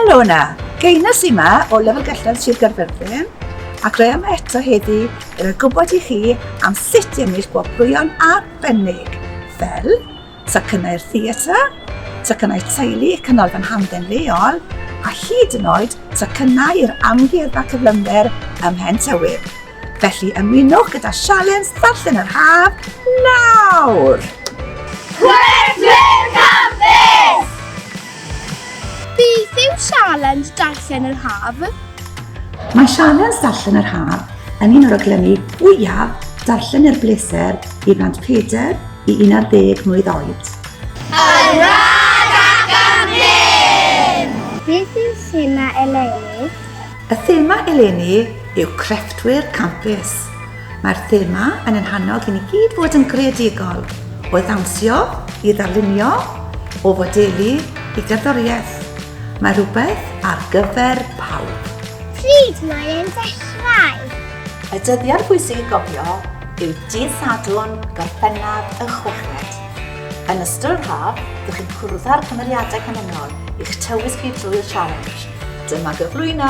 Helo yna, Geinas yma o Lefel Gellradd Sir Gaerfyrddin ac rhaid yma eto heddi i roi gwybod i chi am sut i ennill gwobrwyon arbennig fel tocynnau'r theatr, tocynnau teulu y Canolfan Hamdden leol, a hyd yn oed tocynnau i'r Amgueddfa Cyflymder ym Mhen Tywydd. Felly ymunwch gyda Sialens Ddarllen yr Haf nawr! Chwedlyn Cyffes! Beth yw Sialens Darllen yr Haf? Mae Sialens Darllen yr Haf yn un o raglenni fwyaf darllen er bleser i blant peder i 11 mlwydd oed. Yn rhad ac am ddim! Beth yw thema eleni? Y thema eleni yw Crefftwyr Campus. Mae'r thema yn ein hannog i ni gyd fod yn greadigol, o ddawnsio i ddarlunio, o fodelu i gerddoriaeth. Mae rhywbeth ar gyfer pawb. Pryd mae'n dechrau? Y dyddiad pwysig i gofio yw dydd Sadwrn, Gorffennaf y Chweched. Yn ystod yr haf, dych chi'n cwrdd â'r cymeriadau canlynol i'ch tywys chi drwy'r challenge. Dyma gyflwyno!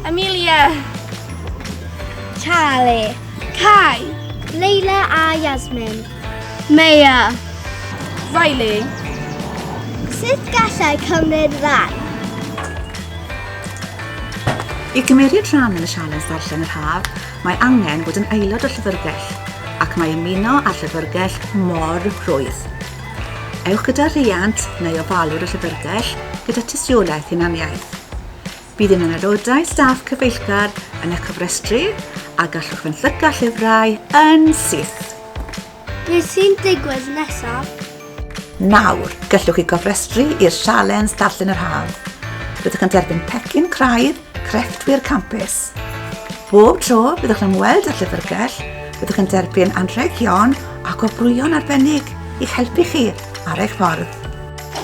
Amelia! Charlie! Kai! Leila a Yasmin! Maya! Riley! Sut gallai cymryd rhan? I gymeriad rhan yn y sialens ddarllen yr haf, Mae angen bod yn aelod o'r Llyfrgell ac mae ymuno â'r Llyfrgell mor rhwydd. Ewch gyda rhiant neu ofalwr y Llyfrgell gyda tystiolaeth hunaniaeth. Bydd un o'n aelodau staff cyfeillgar yn eich cofrestru a gallwch fenthyca llyfrau yn syth. Beth sy'n digwydd nesaf? Nawr, gallwch chi gofrestru i'r sialens Darllen yr Haf. Byddwch yn derbyn pecyn craidd crefftwyr campus. Bob tro byddwch yn ymweld â llyfrgell, byddwch yn derbyn anrhegion a gwobrwyon arbennig i'ch helpu chi ar eich ffordd.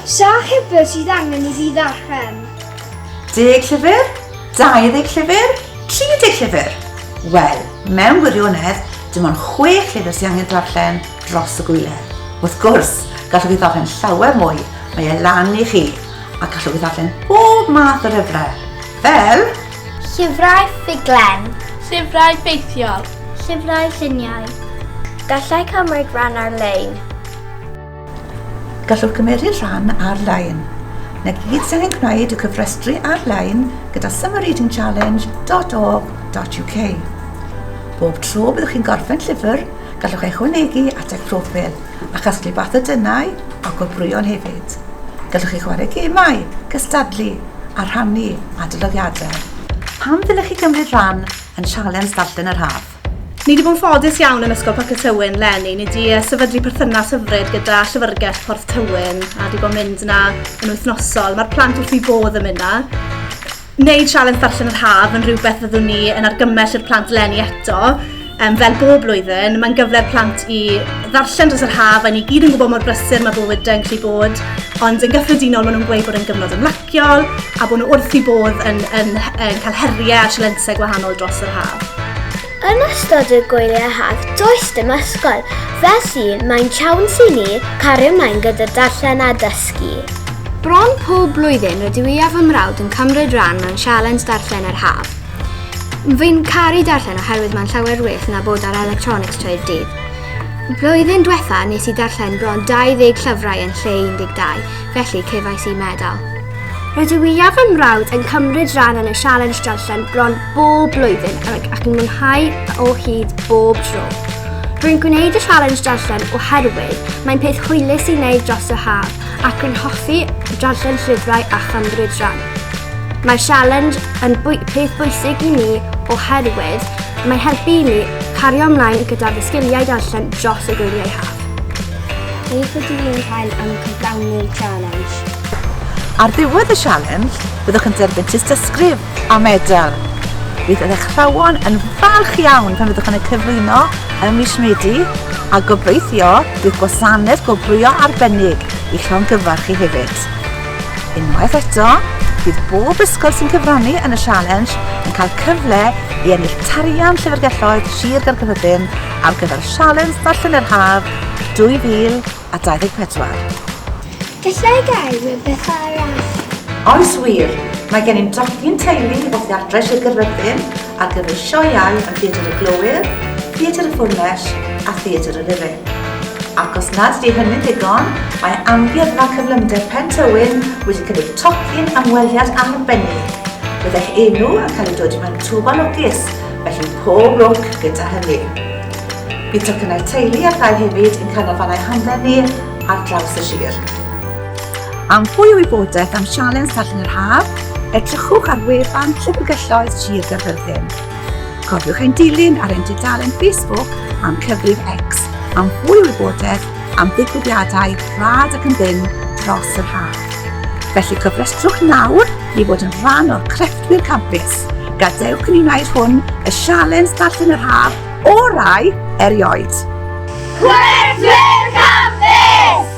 Sa llyfr sydd angen i fi ddarllen? Deg llyfr? 20 llyfr? 30 llyfr! Wel, mewn gwirionedd, dim ond chwech llyfr sydd angen darllen dros y gwyliau. Wrth gwrs, gallwch chi ddarllen llawer mwy, mae e lan i chi, a gallwch chi ddarllen bob math o lyfrau, fel... Llyfrau ffuglen. Llyfrau ffeithiol. Llyfrau lluniau. Gallai cymryd rhan ar-lein. Gallwch gymeryd rhan ar-lein. Na gyd sy'n ein gwneud yw cyfrestru ar-lein gyda summerreadingchallenge.org.uk. Bob tro byddwch chi'n gorffen llyfr, gallwch ei chwanegu at eich proffil a chasglu bathodynnau a gwobrwyon hefyd. Gallwch chi chwarae gemau, cystadlu a rhannu adolygiadau. Pam ddylech chi gymryd rhan yn Sialens Ddarllen yr Haf? Ni wedi bod yn ffodus iawn yn Ysgol Parc y Tywyn, Lenny. Ni wedi sefydlu perthynas hyfryd gyda Llyfrgell Porth Tywyn a wedi bod yn mynd yna yn wythnosol. Mae'r plant wrth i bodd yn mynd yna. Wneud sialens darllen yr haf yn rhywbeth fyddwn ni yn argymell i'r plant lenni eto. Um, fel bob blwyddyn, mae'n gyfle'r plant i ddarllen dros yr haf a ni gyd yn gwybod mor brysur mae bywyd yn gallu bod, ond yn gyffredinol maen nhw'n gweud bod yn gyfnod ymlacio. ysgol a bod nhw wrth i bodd yn, yn, yn cael heriau a sialensau gwahanol dros yr haf. Yn ystod y gwyliau haf, does dim ysgol, felly mae'n siawns i ni cario ymlaen gyda darllen a dysgu. Bron pob blwyddyn rydw i a fy mrawd yn cymryd rhan mewn sialens darllen yr haf. Fi'n caru darllen oherwydd mae'n llawer well na bod ar electronics trwy'r dydd. Blwyddyn diwetha nes i darllen bron 20 llyfrau yn lle 12. Felly, cefais i medal. Rydw i a fy mrawd yn cymryd rhan yn y sialens darllen bron bob blwyddyn ac yn mwynhau o hyd bob tro. Rwy'n gwneud y sialens darllen oherwydd mae'n peth hwylus i wneud dros y haf ac rwy'n hoffi darllen llyfrau a chymryd rhan. Mae'r sialens yn bwy peth bwysig i mi oherwydd mae'n helpu i mi cario ymlaen gyda fy sgiliau darllen dros y gwyliau haf. Beth ydw i'n cael am cyflawni'r sialens? Ar ddiwedd y sialens, byddwch yn derbyn tystysgrif a medal. Bydd yr athrawon yn falch iawn pan fyddwch yn y cyflwyno ym mis Medi a gobeithio bydd gwasanaeth gwobrwyo arbennig i llongyfarch chi hefyd. Unwaith eto, bydd bob ysgol sy'n cyfrannu yn y sialens yn cael cyfle i ennill tarian Llyfrgelloedd Sir Gaerfyrddin ar gyfer Sialens Ddarllen yr Haf 2024. Gallai gael rhywbeth arall. Oes wir! Mae gennym drothwy'n teulu o Theatrau Sir Gaerfyrddin ar gyfer sioeau yn Theatr y Glowyr, Theatr y Ffôn Lesh a Theatr y Rifyn. Ac os nad ydy hynny'n ddigon, mae Amgueddfa Cyflymder Pen Tywyn wedi cynnig tocyn ymweliad arbennig. Bydd eich enw yn cael ei dod mewn twf o lwcus Felly pob lwc gyda hynny. Bydd tocynnau teulu a thai hefyd yn canolfannau hamdden ni ar draws y sir. Am fwy o wybodaeth am Sialens Darllen yr Haf, edrychwch ar wefan Llyfrgelloedd Sir Gaerfyrddin. Cofiwch ein dilyn ar ein dudalen Facebook a'n cyfrif X am fwy o wybodaeth am ddigwyddiadau rhad ac yn ddim dros yr haf. Felly cofrestrwch nawr i fod yn rhan o'r crefft I'r campus. Gadewch i ni wneud hwn y sialens darllen yr haf orau erioed. Chwerthwyr Campus!